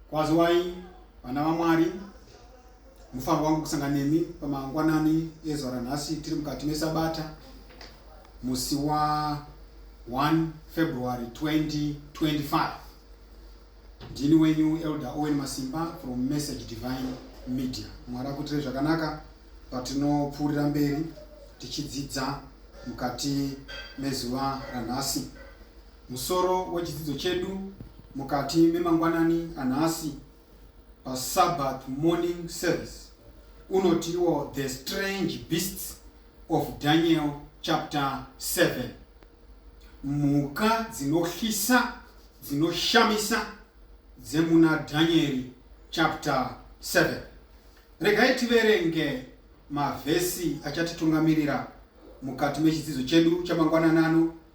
Kwaziwai vana vaMwari, mufaro wangu kusanga nemi pamangwanani ezuva ranhasi tiri mukati mesabata musi wa 1 February 2025. Ndini wenyu Elder Owen Masimba from Message Divine Media. Mwari akuitire zvakanaka patinopfuurira mberi tichidzidza mukati mezuva ranhasi. Musoro wechidzidzo chedu mukati memangwanani anhasi paSabbath morning service unotiwo The Strange Beasts of Daniel chapter 7. Mhuka dzinohlisa dzinoshamisa dzemuna Dhanyeri chapter 7. Regai tiverenge mavhesi achatitungamirira mukati mechidzidzo chedu chamangwananano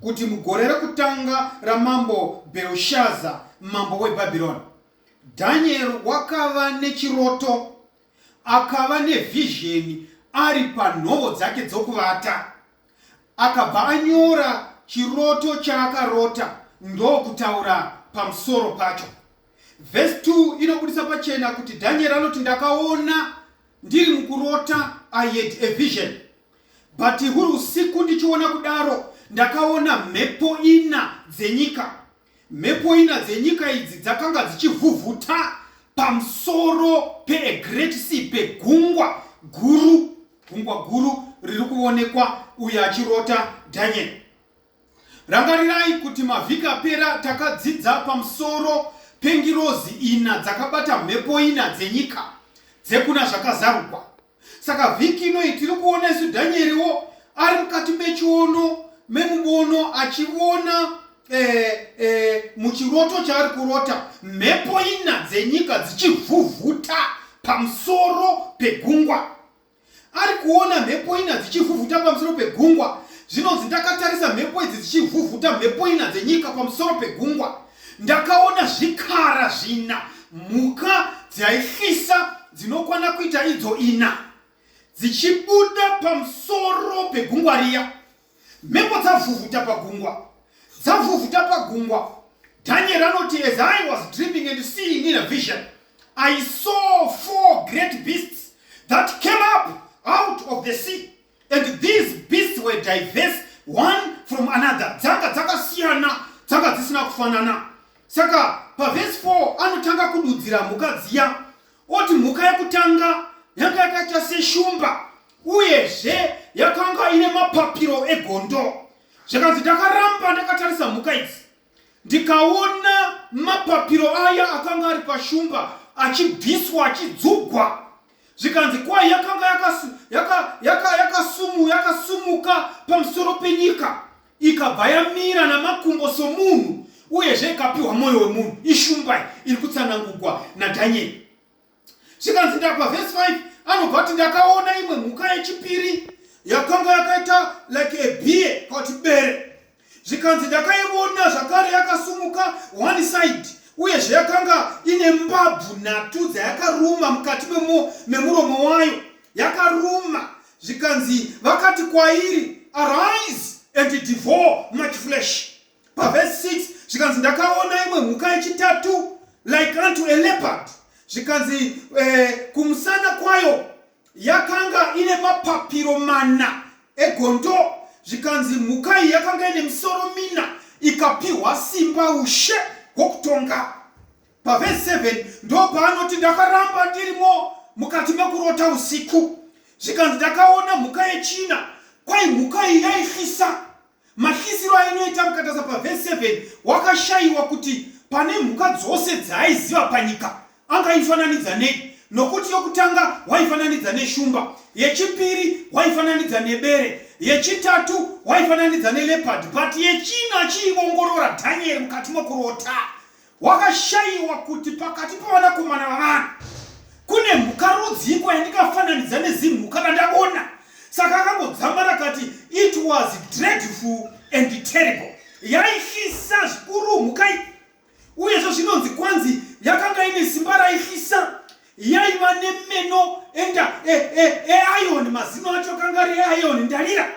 kuti mugore rekutanga ramambo Bherushaza mambo weBhabhironi, Dhanieri wakava nechiroto, akava nevhizheni ari panhovo dzake dzokuvata. Akabva anyora chiroto chaakarota ndokutaura pamusoro pacho. Vhesi 2 inobudisa pachena kuti Dhanieri anoti, Ndakaona ndiri mukurota, I had a vision. But huri usiku ndichiona kudaro ndakaona mhepo ina dzenyika. Mhepo ina dzenyika idzi dzakanga dzichivhuvhuta pamusoro pe a great sea pegungwa guru gungwa guru riri kuonekwa uyo achirota Daniel. Rangarirai kuti mavhiki apera takadzidza pamusoro pengirozi ina dzakabata mhepo ina dzenyika dzekuna zvakazarukwa. Saka vhiki inoi tiri kuona isu Dhanyeriwo ari mukati mechiono memubono achivona eh, eh, muchiroto chaari kurota mhepo ina dzenyika dzichivhuvhuta pamusoro pegungwa ari kuona mhepo ina dzichivhuvhuta pamusoro pegungwa zvinonzi ndakatarisa mhepo idzi dzichivhuvhuta mhepo ina dzenyika pamusoro pegungwa Ndakaona zvikara zvina, mhuka dzaihlisa dzinokwana kuita idzo ina, dzichibuda pamusoro pegungwa riya. Mhepo dzavhuvhuta pagungwa, dzavhuvhuta pagungwa. Daniel anoti, As I was dreaming and seeing in a vision, I saw four great beasts that came up out of the sea. and these beasts were diverse one from another dzanga dzakasiyana dzanga dzisina kufanana saka pavhesi 4 anotanga kududzira mhuka dziya oti mhuka yekutanga yanga yakaita seshumba uyezve yakanga ine mapapiro egondo zvakanzi ndakaramba ndakatarisa mhuka idzi Ndikaona mapapiro aya akanga ari pashumba achibviswa achidzugwa zvikanzi kwai yakanga yakasumuka yaka, yaka pamusoro penyika ikabva yamira namakumbo somunhu uyezve ikapiwa mwoyo wemunhu ishumbai iri kutsanangugwa nadhanyeri zvikanzi ndapa vhesi 5 anobva kuti ndakaona imwe mhuka yechipiri yakanga yakaita like a beer kauti bere zvikanzi ndakaiona zvakare yakasumuka one side uyezve yakanga ine mbabvu nhatu dzayakaruma mukati memuromo wayo yakaruma zvikanzi vakati kwairi arise and devour much flesh pavhesi 6 zvikanzi ndakaona imwe mhuka yechitatu like unto a leopard zvikanzi eh, kumusana kwayo yakanga ine mapapiro mana egondo zvikanzi mhuka iyi yakanga ine misoro mina ikapiwa simba ushe hwokutonga pavhesi 7 ndo paanoti ndakaramba ndirimo mukati mekurota usiku zvikanzi ndakaona mhuka yechina kwai mhuka iyi yaifisa Matyisiro ainoita mukatasa pavhesi 7 wakashayiwa kuti pane mhuka dzose dzaaiziva panyika angaifananidza nei, nokuti yokutanga waifananidza neshumba, yechipiri waifananidza nebere, yechitatu waifananidza neleopard, but yechina achiiongorora Dhanieri mukati mokurota. Wakashayiwa kuti pakati pavanakomana vavanhu kune mhuka rudziiko yandingafananidza nezimhuka randaona. Saka akangodzama rakati it was dreadful and terrible. Yaifisa zvikuru mhuka iyi uyezvo zvinonzi kwanzi yakanga ine simba raifisa yaiva nemeno enda eayon e, e, mazino acho akanga ari eayon ndarira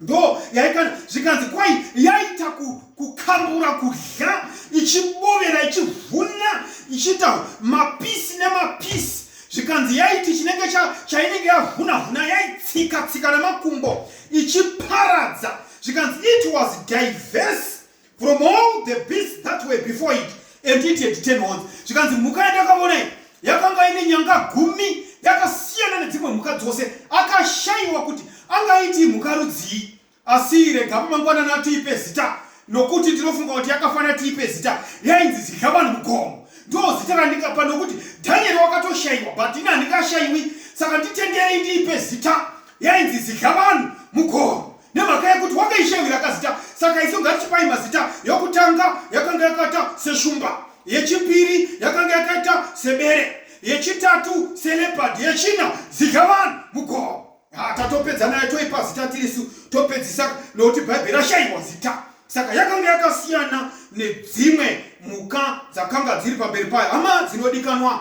ndo yaikana zvikanzi kwai yaita kukambura kudya ichibovera ichivhuna ichiita mapisi nemapisi zvikanzi yaiti chinenge chainenge yavhuna vhuna yaitsika tsika nemakumbo ichiparadza zvikanzi it was diverse from all the beasts that were before it and it had ten horns zvikanzi mhuka yandakaona iyi yakanga ine nyanga gumi yakasiyana nedzimwe mhuka dzose akashayiwa kuti angaiti mhuka rudzii asi rega pamangwanana atiipe zita nokuti ndinofunga kuti yakafanira tiipe zita yainzi zidya vanhu mugomo ndo zita randingapa nokuti dhanieri wakatoshayiwa but ini handingashayiwi saka nditenderei ndiipe zita yainzi zidya vanhu mugoro nemhaka yekuti wakaishevira kazita saka isu ngatichipai mazita yokutanga yakanga yakaita seshumba yechipiri yakanga yakaita sebere yechitatu selepad yechina zidya vanhu mugoro ah, tatopedza nayo toipa zita tirisu topedzisa nokuti bhaibheri rashaiwa zita saka yakanga yakasiyana nedzimwe mhuka dzakanga dziri pamberi payo hama dzinodikanwa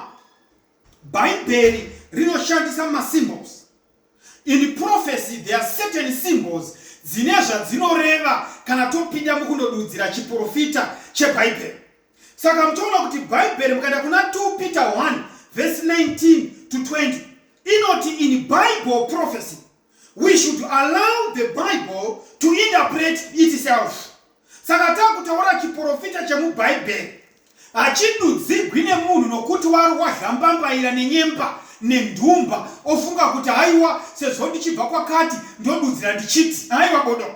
Bhaibheri rinoshandisa masymbols. In prophecy there are certain symbols dzine zvadzinoreva kana topinda mukundodudzira chiprofita chebhaibheri. Saka mutoona kuti bhaibheri mukaenda kuna 2 Peter 1 vhesi 19 to 20 inoti in Bible prophecy we should allow the bible to interpret itself saka takutaura chiprofita chemubhaibheri hachidudzigwi nemunhu nokuti wari wazhambambaira nenyemba nenhumba ofunga kuti haiwa sezvo ndichibva kwakati ndodudzira ndichiti haiwa bodo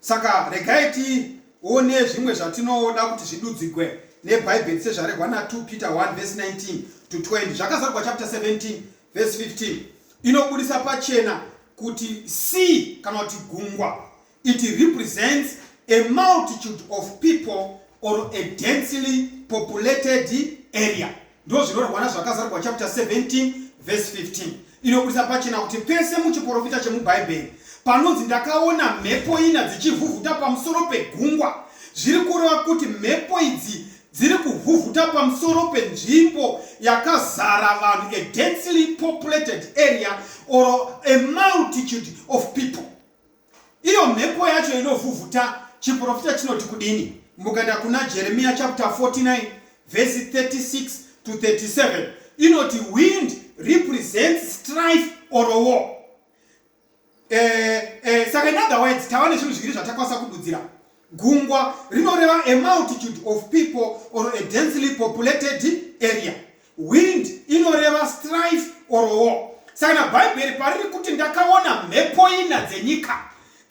saka regai tione zvimwe zvatinoda kuti zvidudzigwe nebhaibheri sezvaregwa na 2 peter 1 vhesi 19 to 20 zvakazarigwa chapter 17 vhesi 15 inobudisa pachena kuti sea kana kuti gungwa it represents a multitude of people or a densely populated area Ndozvinorwana zvakazarwa chapter 17 verse 15 inoburitsa pachena kuti pese muchiporofita chemubhaibheri panonzi ndakaona mhepo ina dzichivhuvhuta pamusoro pegungwa zviri kureva kuti mhepo idzi dziri kuvhuvhuta pamusoro penzvimbo yakazara vanhu a densely populated area or a multitude of people Iyo mhepo yacho inovhuvhuta chiprofita chinoti kudini? Mukaenda kuna Jeremiya chapter 49 verse 36 to 37 inoti wind represents strife or war. Eh, eh, saka in other words tava nezvinhu zviviri zvatakwanisa kududzira Gungwa rinoreva a multitude of people or a densely populated area. Wind inoreva strife or war. Saka na Bhaibheri pariri kuti ndakaona mhepo ina dzenyika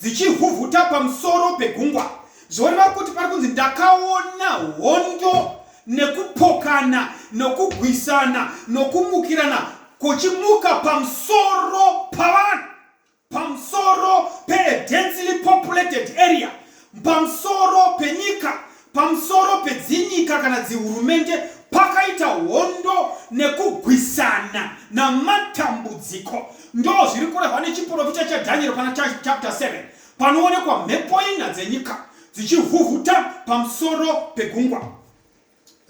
dzichivhuvhuta pamusoro pegungwa, zvoreva kuti pari kunzi ndakaona hondo nekupokana nokugwisana nokumukirana kuchimuka pamusoro pavanhu pamusoro pee densely populated area pamusoro penyika pamusoro pedzinyika kana dzihurumende pakaita hondo nekugwisana namatambudziko ndo zviri kurehwa nechiprofita chadhanieri pana chapter 7 panoonekwa mhepo ina dzenyika dzichivhuvhuta pamusoro pegungwa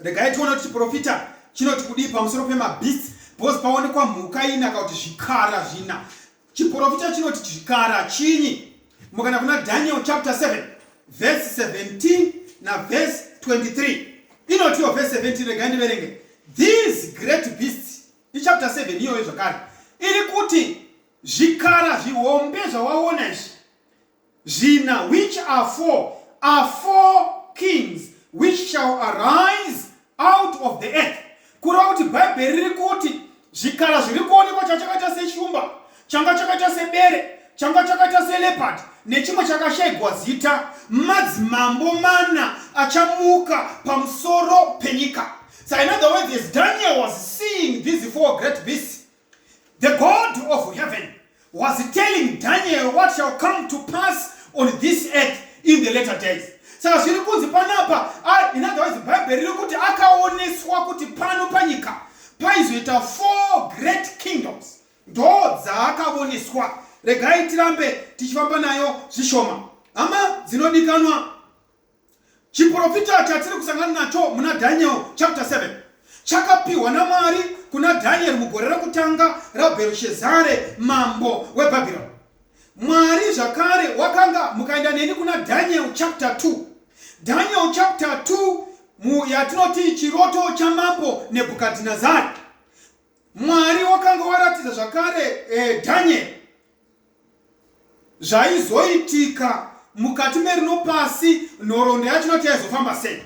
Regai tione kuti chiprofita chinoti kudii pamusoro pemabeasts because paonekwa mhuka ina ka kuti zvikara zvina. Chiprofita chinoti zvikara chinyi? Mukana kuna Daniel chapter 7 verse 17 na verse 23 inotiwo verse 17 regai ndiverenge these great beasts ichapter 7 iyoyo zvakare iri kuti zvikara zvihombe zvawaona izvi Zvina which are four are four kings which shall arise out of the earth. Kureva kuti Bhaibheri riri kuti zvikara zviri kuonekwa chachakaita sechumba, changa chakaita sebere, changa chakaita selepard nechimwe chakashaigwa zita, madzimambo mana achamuka pamusoro penyika. So in other words, as Daniel was seeing these four great beasts, The God of heaven was telling Daniel what shall come to pass on this earth in the later days. Saka zviri kunzi panapa, in other words, Bible riri kuti akaoneswa kuti pano panyika paizoita four great kingdoms. Ndo dzaakaoneswa. Regai tirambe tichifamba nayo zvishoma. Hama dzinodikanwa Chiprofita chatiri kusangana nacho muna Daniel chapter 7 chakapiwa naMwari kuna Daniel mugore rekutanga raBhershezare mambo weBhabhironi. Mwari zvakare wakanga mukaenda neni kuna Daniel chapter 2. Daniel chapter 2 mu yatinoti chiroto chamambo Nebhukadhinezari. Mwari wakanga waratidza zvakare eh, Daniel zvaizoitika mukati merino pasi nhoroondo yacho noti yaizofamba sei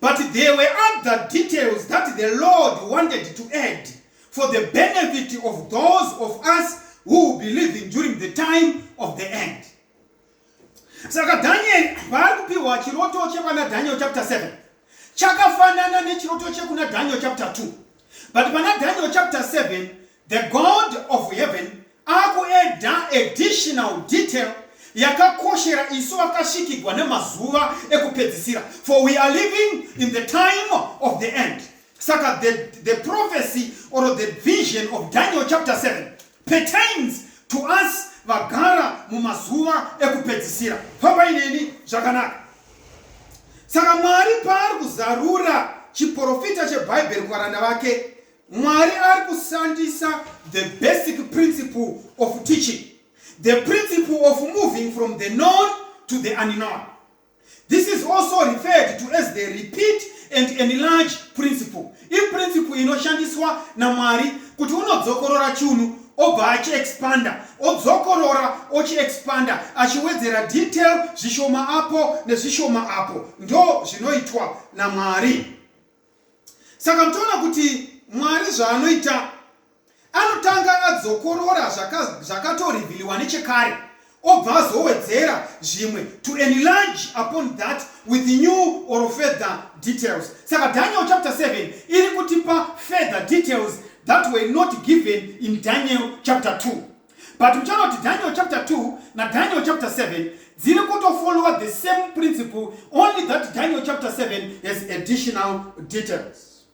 but there were other details that the lord wanted to add for the benefit of those of us who will be living during the time of the end Saka Daniel paari kupihwa chiroto chekwana Daniel chapter 7 chakafanana nechiroto chekuna Daniel chapter 2 but pana Daniel chapter 7 the God of heaven akueda additional detail yakakoshera isu vakasvikigwa nemazuva ekupedzisira for we are living in the time of the end saka the, the prophecy or the vision of daniel chapter 7 Pertains to us vagara mumazuva ekupedzisira. Fambai neni zvakanaka. Saka Mwari paari kuzarura chiporofita cheBhaibheri kuvaranda vake, Mwari ari kushandisa the basic principle of teaching, the principle of moving from the known to the unknown. This is also referred to as the repeat and enlarge principle. Iprinciple inoshandiswa naMwari kuti unodzokorora chunhu obva achiexpanda odzokorora ochiexpanda achiwedzera detail zvishoma apo nezvishoma apo ndo zvinoitwa namwari saka mutoona kuti mwari zvaanoita anotanga adzokorora zvakatorivhiliwa zvaka nechekare obva azowedzera zvimwe to enlarge upon that with new or further details saka daniel chapter 7 iri kutipa further details that were not given in daniel chapter 2 but uchaona kuti daniel chapter 2 nadaniel chapter 7 dziri kutofollowa the same principle only that daniel chapter 7 has additional details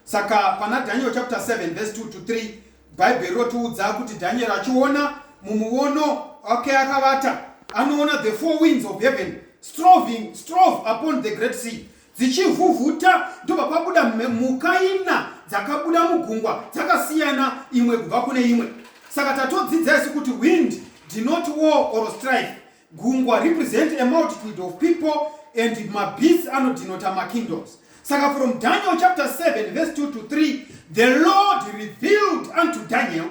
saka pana daniel chapter 7 verse 2 to 3 bhaibheri rinotiudza kuti daniel achiona mumuono wake akavata anoona the four winds of heaven stroving strove upon the great sea dzichivhuvhuta ndobva pabuda mhuka ina dzakabuda mugungwa dzakasiyana imwe kubva kune imwe saka tatodzidza isu kuti wind did not war or strife gungwa represent a multitude of people and mabeast anodinota makingdoms saka from daniel chapter 7 verse 2 to 3 the lord revealed unto daniel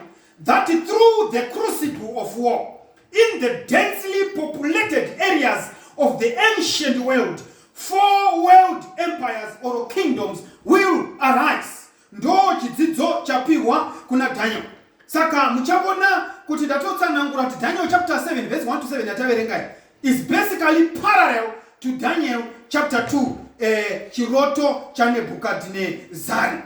that through the crucible of war in the densely populated areas of the ancient world four world empires or kingdoms will arise ndo chidzidzo chapihwa kuna daniel saka muchavona kuti ndatotsanangura kuti daniel chapter 7 vese 1 to 7 yataverengai is basically parallel to daniel chapter 2 eh, chiroto chanebhukadhinezari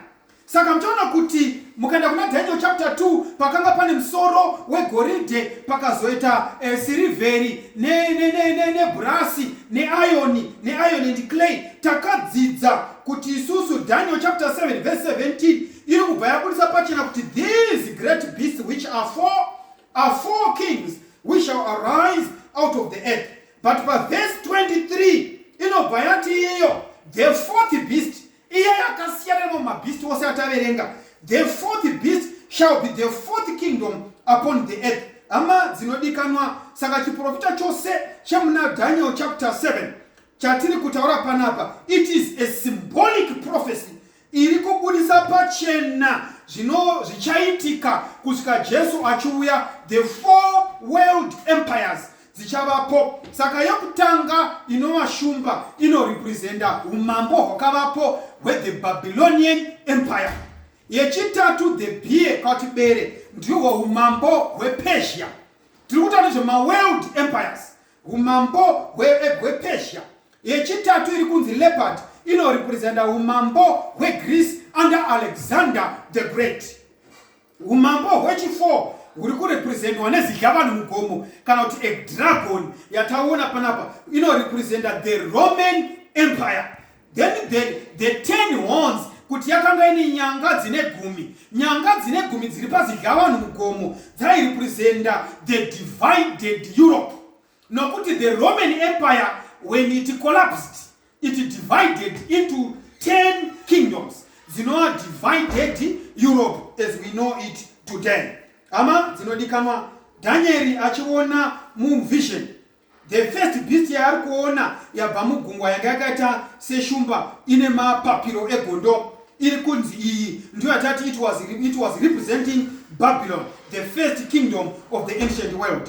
Saka muchaona kuti mukaenda kuna Daniel chapter 2 pakanga pane musoro wegoridhe pakazoita eh, sirivheri nebhurasi ne, ne, ne, ne neayoni neayoni and clay. Takadzidza kuti isusu Daniel chapter 7 verse 17 iri kubva yabudisa pachena kuti these great beasts which are four, are four kings which shall arise out of the earth. But pa verse 23 inobva yati iyeyo the fourth beast Iye akasiyana nemamwe mabeast ose ataverenga. The fourth beast shall be the fourth kingdom upon the earth. Hama dzinodikanwa, saka chiprofita chose chemuna Daniel chapter 7 chatiri kutaura panapa, it is a symbolic prophecy iri kubudisa pachena zvino zvichaitika kusvika Jesu achiuya, the four world empires dzichavapo saka yokutanga inova shumba inorepresenta umambo hwakavapo hwethe babylonian empire yechitatu the beer kauti bere ndihwo umambo hwepersia tiri kuta nezvemaworld empires umambo hwepersia yechitatu iri kunzi leopard inorepresenta umambo hwegreece under alexander the great Umambo hwechi4 huri kurepresentwa nezidhlavani mugomo kana kuti a dragon yataona panapa inorepresenta the roman empire then the, the ten horns kuti yakanga ine nyanga dzine gumi nyanga dzine gumi dziri pazidhlavani mugomo dzairepresenta the divided europe Nokuti the Roman Empire when it collapsed it divided into 10 kingdoms dzinova divided Europe as we know it today. Hama dzinodikanwa Danieri achiona muvision the first beast yaari kuona yabva mugungwa yanga yakaita seshumba ine mapapiro egondo iri kunzi iyi ndiyo yatati it was, it was representing babylon the first kingdom of the ancient world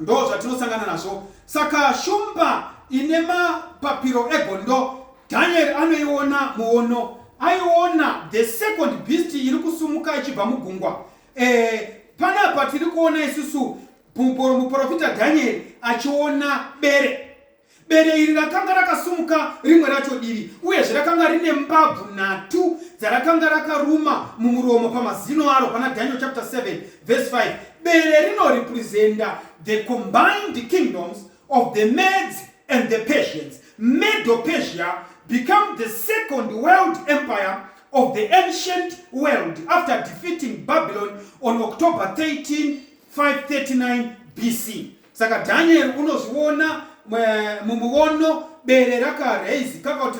Ndo zvatinosangana nazvo. Saka shumba ine mapapiro egondo Danieri anoiona muono. Aiona the second beast iri kusumuka ichibva mugungwa. Eh, panapa tiri kuona isusu muporofita Danieri achiona bere. Bere iri rakanga rakasumuka rimwe racho divi, uyezve rakanga rine mbabvu nhatu dzarakanga rakaruma mumuromo pamazino aro pana Daniel chapter 7 verse 5. Bere rinorepresenta the combined kingdoms of the Medes and the Persians. Medo-Persia become the second world empire of the ancient world after defeating Babylon on October 13, 539 BC. Saka Daniel unozviona mumuono bere rakaraizi kaka kuti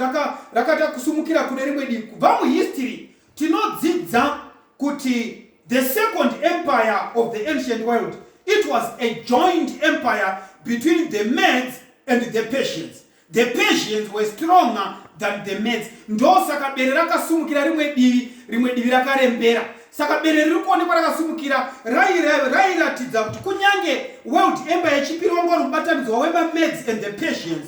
rakada kusumukira kune rimwe divi. Kubva muhistory tinodzidza kuti the second empire of the ancient world it was a joint empire between the Medes and the Persians. The Persians were stronger than the Medes. Ndosaka bere rakasumukira rimwe divi, rimwe divi rakarembera. Saka bere riri kuonekwa rakasumukira rairatidza kuti kunyange World Empire yechipiri wanga uri mubatanidzwa wemaMedes and the Persians.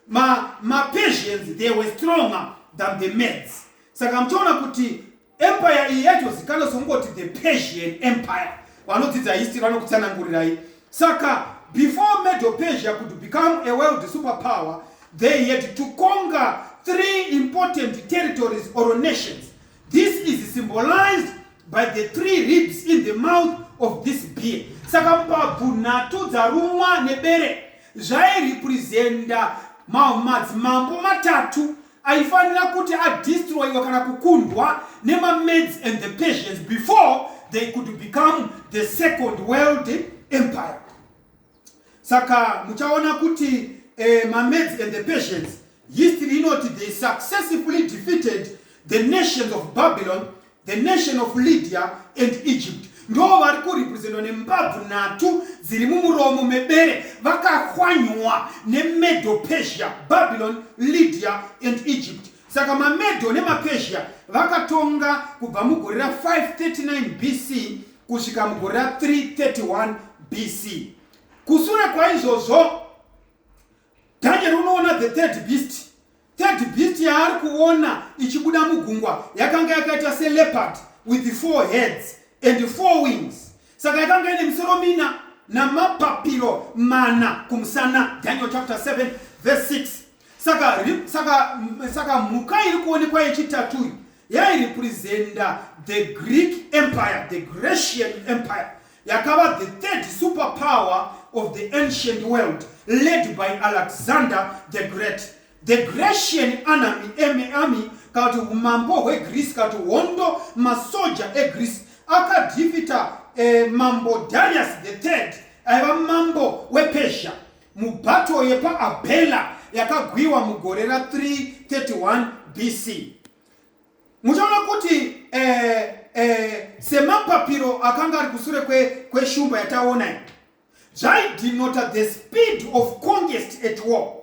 Ma, maPersians they were stronger than the Medes. Saka muchaona kuti Empire iyi yaitozikanwa sokungoti the Persian Empire. Vanodzidza history vanokutsanangurirai. Saka before Medo Persia could become a world superpower, they had to conquer three important territories or nations. This is symbolized by the three ribs in the mouth of this beer. Saka mbabvu nhatu dzarumwa nebere zvairepresenta madzimambo matatu aifanira kuti adestroyiwa kana kukundwa nemamaids and the persians before they could become the second world empire saka muchaona kuti eh, mamaids and the persians history inoti they successfully defeated the nations of babylon the nation of lydia and egypt ndo vari kurepresentwa nembabvu nhatu dziri mumuromo mebere vakahwanywa nemedo persia babylon lydia and egypt saka mamedo nemapersia vakatonga kubva mugore ra539 bc kusvika mugore ra331 bc kusure kwaizvozvo Daniel unoona the third beast. Third beast yaari kuona ichibuda mugungwa yakanga yakaita seleopard with four heads and four wings. Saka yakanga ine misoro mina namapapiro mana kumusana. Daniel chapter 7 verse 6. Saka, saka, saka mhuka iri kuonekwa yechitatu yairepresenta the greek empire the grecian empire yakava the third super power of the ancient world led by alexander the great the grecian anami eme army kana kuti umambo hwegreece kana kuti hondo masoja egreece akadhifita eh, mambo darius the third aiva mambo wepersia Mubato yepaAbhela yakagwiwa mugore ra 331 BC. Muchaona kuti eh, eh, semapapiro akanga ari kusure kweshumba kwe yataona iyi zvaidinota the speed of conquest at war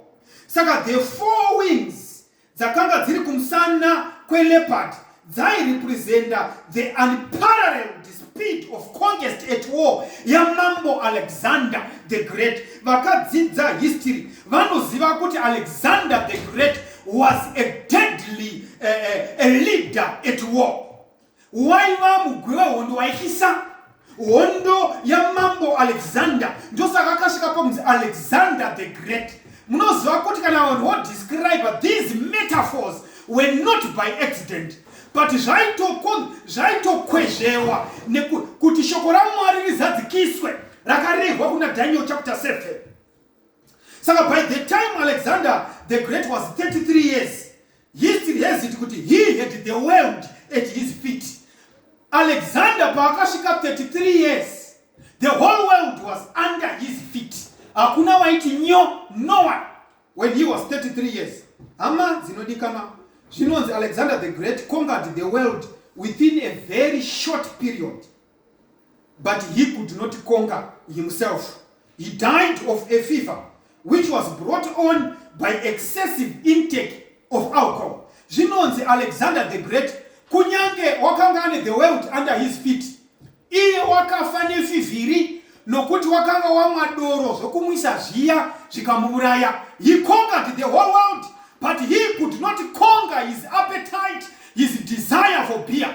saka the four wings dzakanga dziri kumusana kweleopard dzairepresenta the unparalleled speed of conquest at war yamambo alexander the great vakadzidza history vanoziva kuti alexander the great was a deadly uh, uh, a leader at war waiva mugwi wehondo waityisa hondo yamambo alexander ndosaka akasvika pakunzi alexander the great munoziva kuti kana vanhu vodescribe these metaphors were not by accident but zvaitokwezvewa kuti shoko ramwari rizadzikiswe rakarehwa kuna daniel chapter 7 saka by the time alexander the great was 33 years He still has it kuti he had the world at his feet. Alexander paakasvika 33 years, the whole world was under his feet. Hakuna waiti nyo, no one when he was 33 years. Hama dzinodikana zvinonzi Alexander the Great conquered the world within a very short period. but he could not conquer himself. He died of a fever which was brought on by excessive intake of alcohol. Zvinonzi Alexander the Great kunyange wakanga ane the world under his feet, iye wakafa nefivhiri nokuti wakanga wamwa doro zvokumwisa zviya zvikamuuraya. He conquered the whole world but he could not conquer his appetite, his desire for beer.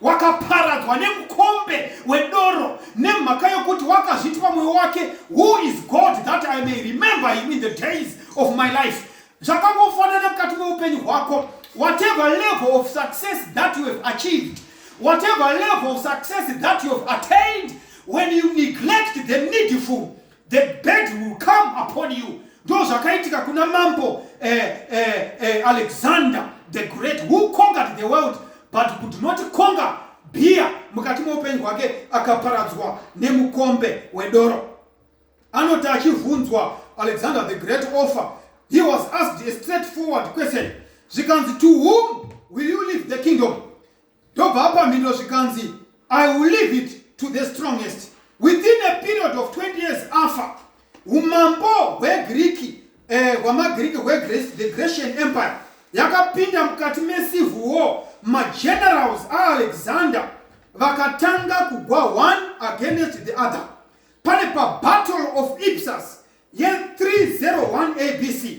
wakaparadzwa nemukombe wedoro nemhaka yokuti wakazviti pamwoyo wake who is god that i may remember him in the days of my life zvakangofanana mukati meupenyu hwako whatever level of success that you have achieved whatever level of success that you have attained when you neglect the needful the bed will come upon you ndo zvakaitika kuna mambo eh, eh, eh, alexander the great who conquered the world but could not conquer beer mukati meupenyu hwake akaparadzwa nemukombe wedoro anoti achivhunzwa alexander the great offer he was asked a straightforward question zvikanzi to whom will you leave the kingdom ndobva apa mhindo zvikanzi i will leave it to the strongest within a period of 20 years afa umambo hwegiriki eh, hwamagiriki hwethe grecian empire yakapinda mukati mecivil war magenerals aalexander vakatanga kugwa one against the other pane pabattle of ipsus ye301 abc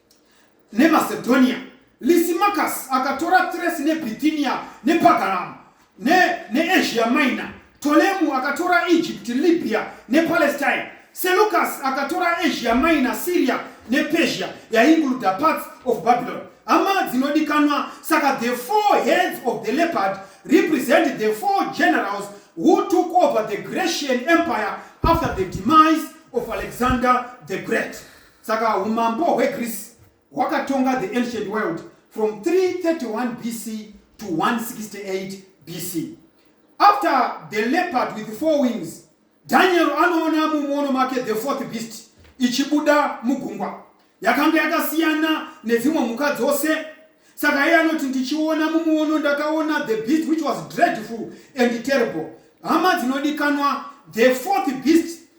neMacedonia. Lysimachus akatora Thrace neBithynia nePagaram neAsia ne Minor. Ptolemu akatora Egypt, Libya nePalestine. Seleucus akatora Asia Minor, Syria nePersia yainguruda parts of Babylon. Hama dzinodikanwa, saka the four heads of the leopard represent the four generals who took over the Grecian Empire after the demise of Alexander the Great. Saka umambo hweGreece hwakatonga the ancient world from 331 BC to 168 BC. After the leopard with four wings, Daniel anoona mumuono make the fourth beast ichibuda mugungwa. Yakanga yakasiyana nedzimwe mhuka dzose saka iye anoti ndichiona mumuono ndakaona the beast which was dreadful and terrible hama dzinodikanwa the fourth beast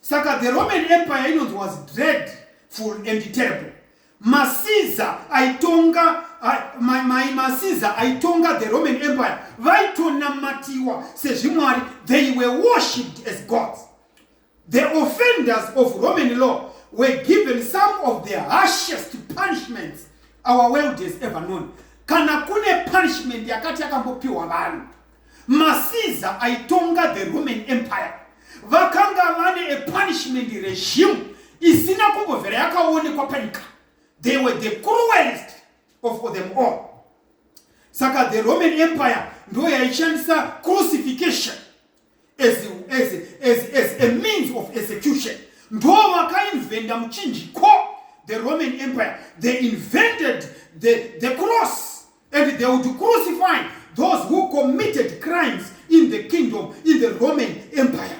Saka the Roman Empire inonzi was dread full and terrible. Masiza aitonga mai ma, masiza aitonga the Roman Empire vaitonamatiwa sezvimwari they were worshipped as gods. The offenders of Roman law were given some of the harshest punishments our world has ever known. Kana kune punishment yakati yakambopiwa vanhu maCaesar aitonga the Roman Empire vakanga vane a punishment regime isina kumbovhera yakaonekwa panyika they were the cruelest of them all saka the roman empire ndo yaishandisa crucification as, as, as, as a means of execution ndo vakainventa muchinjiko the roman empire they invented the, the cross And they would crucify those who committed crimes in the kingdom in the Roman Empire.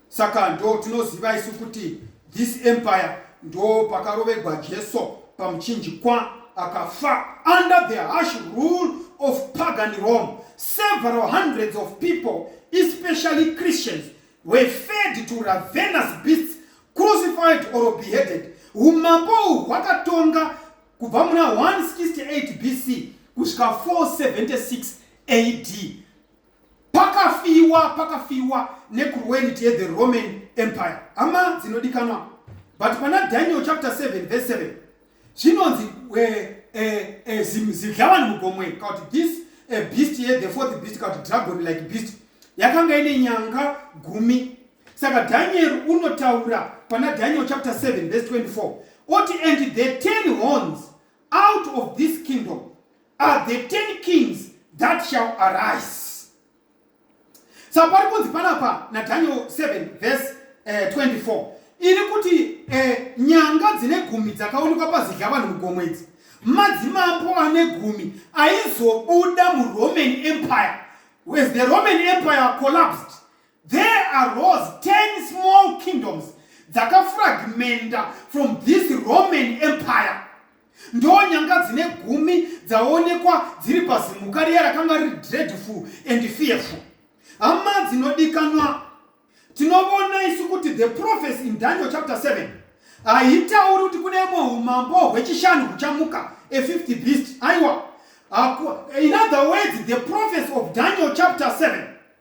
Saka ndo tinoziva isu kuti this empire ndo pakarovegwa Jesu pamuchinjikwa akafa under the harsh rule of pagan Rome. Several hundreds of people, especially Christians, were fed to ravenous beasts, crucified or beheaded. Umambo hwakatonga Kubva muna 168 BC kusvika 476 AD pakafiwa pakafiwa necruelity yethe Roman Empire. Hama dzinodikanwa, but pana Daniel chapter 7 verse 7 zvinonzi eh, eh, eh, zidlavani mugomwe kauti this beast yethe fourth beast kauti dragon like beast yakanga ine nyanga gumi saka dhanieri unotaura pana daniel chapter 7 verse 24 oti and the ten horns out of this kingdom are the ten kings that shall arise saka pari kunzi panapa nadaniel 7 verse uh, eh, 24 iri kuti eh, nyanga dzine gumi dzakaonekwa pazidya vanhu mugomo idzi madzimambo ane gumi aizobuda muroman empire as the roman empire collapsed There arose ten small kingdoms dzakafragmenta from this Roman Empire. Ndonyanga dzine gumi dzaonekwa dziri pazimuka riya rakanga riri dreadful and fearful. Hama dzinodikanwa, tinovona isu kuti the prophecy in Daniel chapter 7 haitauri kuti kune imwe umambo hwechishanu huchamuka a fifth beast aiwa in other words the prophecy of daniel chapter 7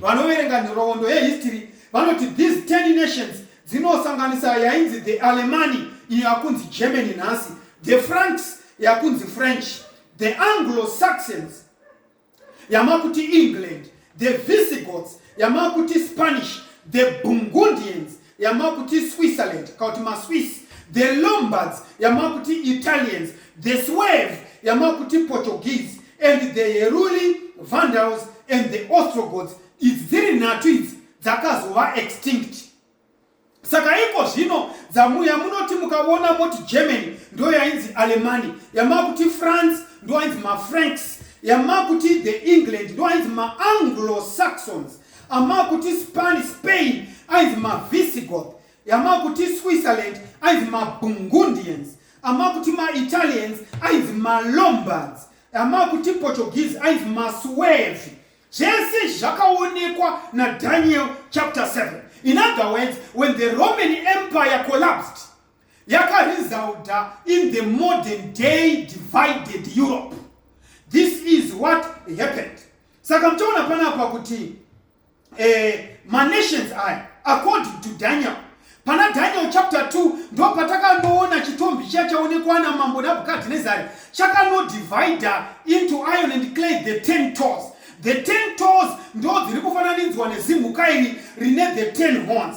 Vanoverenga nhoroondo yehistory vanoti these ten nations dzinosanganisa yainzi the Alemani iyo yakunzi Germany nhasi, the Franks yakunzi French, the Anglo-Saxons yamakuti England, the Visigoths yamakuti Spanish, the Burgundians yamakuti switzerland kana kuti maswiss the lombards yamakuti italians the swave yamakuti portuguese and the heruli vandals and the ostrogods idzi dziri nhatu idzi dzakazova extinct saka iko zvino dzamuya munoti mukavona moti germany ndo yainzi alemani yamakuti france ndo yainzi mafranks yamakuti the england ndo yainzi maanglo saxons amakuti span spain ainzi mavisigoth yamakuti switzerland ainzi mabungundians amakuti maitalians ainzi malombards amakuti portuguese ainzi masuevi zvese zvakaonekwa nadaniel chapter 7 in other words when the roman empire collapsed yakaresulta in the modern day divided europe this is what happened saka muchaona panapa kuti eh, manations aya according to daniel pana daniel chapter 2 ndo patakanoona chitombi chiya chaonekwa namambo nabhukadhinezari chakanodivida into iron and clay the ten toes the ten toes ndo dziri kufananidzwa nezimhuka iri rine the ten horns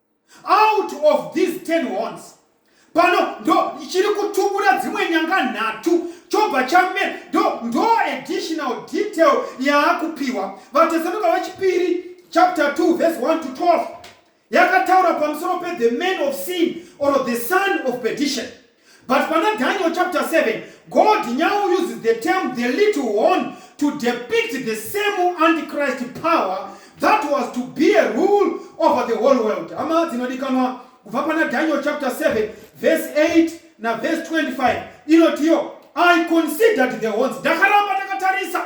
out of these 10 horns pano ndo chiri kutubura dzimwe nyanga nhatu chobva chamera ndo ndo additional detail yaakupiwa vatesanuka vachipiri chapter 2 verse 1 to 12 yakataura pamusoro pe the man of sin or the son of perdition But pana Daniel chapter 7, God now uses the term the little horn to depict the same antichrist power that was to be a rule over the whole world. Hama dzinodikanwa kubva pana Daniel chapter 7 verse 8 na verse 25 inotiyo I considered the horns ndakaramba ndakatarisa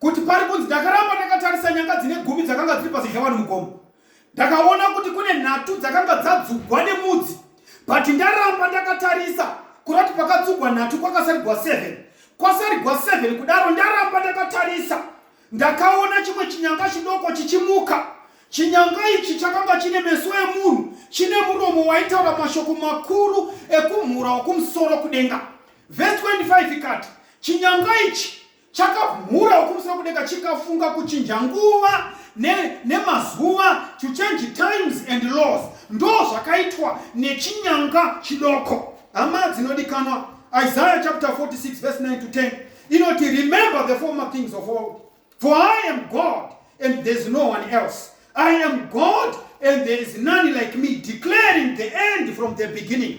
kuti pari kunzi ndakaramba ndakatarisa nyanga dzine gumi dzakanga dziri pazidya vanhu mugomo ndakaona kuti kune nhatu dzakanga dzadzugwa nemudzi but ndaramba ndakatarisa kuda kuti pakatsugwa nhatu kwakasarigwa 7 kwasarigwa 7 kudaro ndaramba ndakatarisa ndakaona chimwe chinyanga chidoko chichimuka chinyanga ichi chakanga chine meso emunhu chine muromo waitaura mashoko makuru ekumhura wokumusoro kudenga vhesi 25 ikati chinyanga ichi chakamhura ukurusa kudeka chikafunga kuchinja nguva nemazuva ne to change times and laws ndo zvakaitwa nechinyanga chidoko hama dzinodikanwa isaiah chapter 46 verse 9 to 10 inoti remember the former things of old for i am god and there is no one else i am god and there is none like me declaring the end from the beginning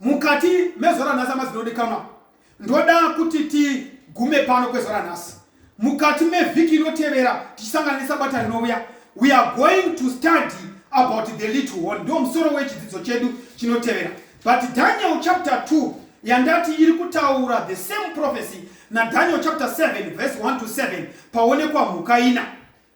Mukati mezuva ranhasi hama dzinodikanwa, ndoda kuti tigume pano kwezuva ranhasi. Mukati mevhiki inotevera tichisangana nesabata rinouya, we are going to study about the little horn. Ndiwo musoro wechidzidzo chedu chinotevera. But Daniel chapter 2 yandati iri kutaura the same prophecy naDaniel chapter 7 verse 1 to 7 paonekwa mhuka ina.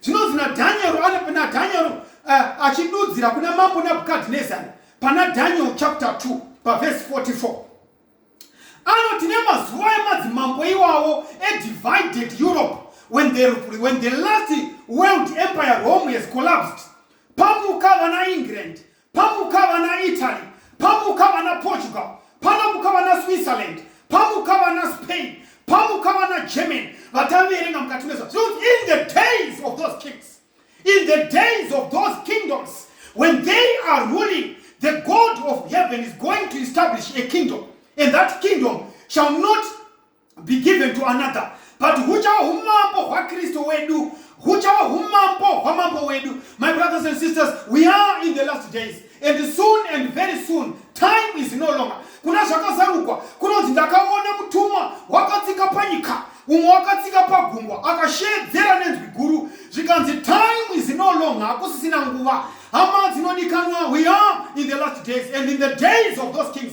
Zvinonzi naDhanieri naDhanieri uh, eh, achidudzira kuna mambo Nabukadinezari pana Daniel chapter 2 pavhesi 44 anoti nemazuva emadzimambo iwawo edivided Europe when the, when the last world empire Rome has collapsed pamuka vana England pamuka vana italy pamuka vana portugal panomuka vana switzerland pamuka vana spain pamuka vana german vataverenga mukati mezva in the days of those kings in the days of those kingdoms when they are ruling the god of heaven is going to establish a kingdom and that kingdom shall not be given to another but huchava umambo hwakristu wedu huchava umambo hwamambo wedu my brothers and sisters we are in the last days and soon and very soon time is no longer kuna zvakazarukwa kunonzi ndakaona mutumwa wakatsika panyika umwe wakatsika pagungwa akashedzera nenzwi guru zvikanzi time is no longer hakusisina nguva hama dzinodikanwa we are in the last days and in the days of those kings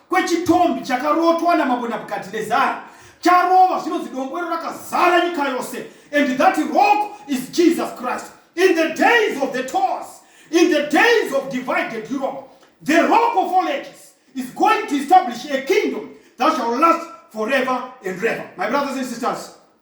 kwechitombi chakarotwa namambo nabukadinezari charova zvinonzi dombo iro rakazara nyika yose and that rock is jesus christ in the days of the tours in the days of divided europe the rock of all ages is going to establish a kingdom that shall last forever and ever my brothers and sisters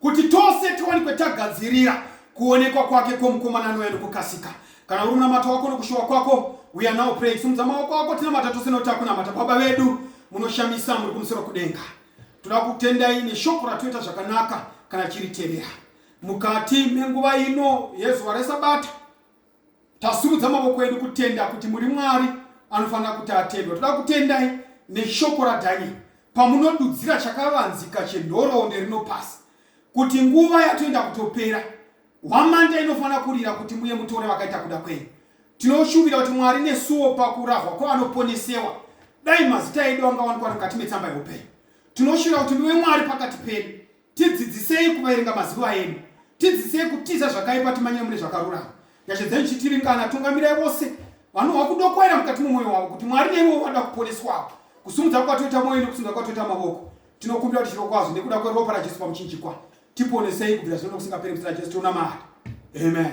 Kuti tose tiwanikwe tagadzirira kuonekwa kwake kwomukomana anouya nokukasika. Kana uri munamato wako nokushuva kwako, we are now praying. Simudza maoko ako tinamata tose noti akunamata. Baba vedu munoshamisa muri kumusoro kudenga. Toda kutendai neshoko ratoita zvakanaka kana chiritevera. Mukati menguva ino yezuva resabata Tasimudza mavoko edu kutenda kuti muri Mwari anofanira kuti atendwa. Toda kutendai neshoko raDhanieri pamunodudzira chakavanzika chenhoroondo rino pasi kuti nguva yatoenda kutopera hwamanda inofanira kurira kuti muye mutore vakaita kuda kwenyu. Tinoshuvira kuti Mwari nesuwo pakurahwa kwavanoponesewa dai mazita edu angawanikwa mukati metsamba yeupenyu. Tinoshuvira kuti muve Mwari pakati pedu Tidzidzisei kuverenga mazuva edu. Tidzidzisei kutiza zvakaipa timanyire mune zvakarurama. Nyasha dzenyu chitiringana, tungamirai vose vanohwa kudokwaira mukati mumwoyo wavo kuti Mwari neivo vada kuponeswawo. Kusimudza kwatoita mwoyo nekusimudza kwatoita mavoko. Tinokumbira kuti chiro kwazvo nekuda kweropa raJesu pamuchinjikwa. Tiponesei kubvira zvino nokusingaperi muzita raJesu tonamata. Amen.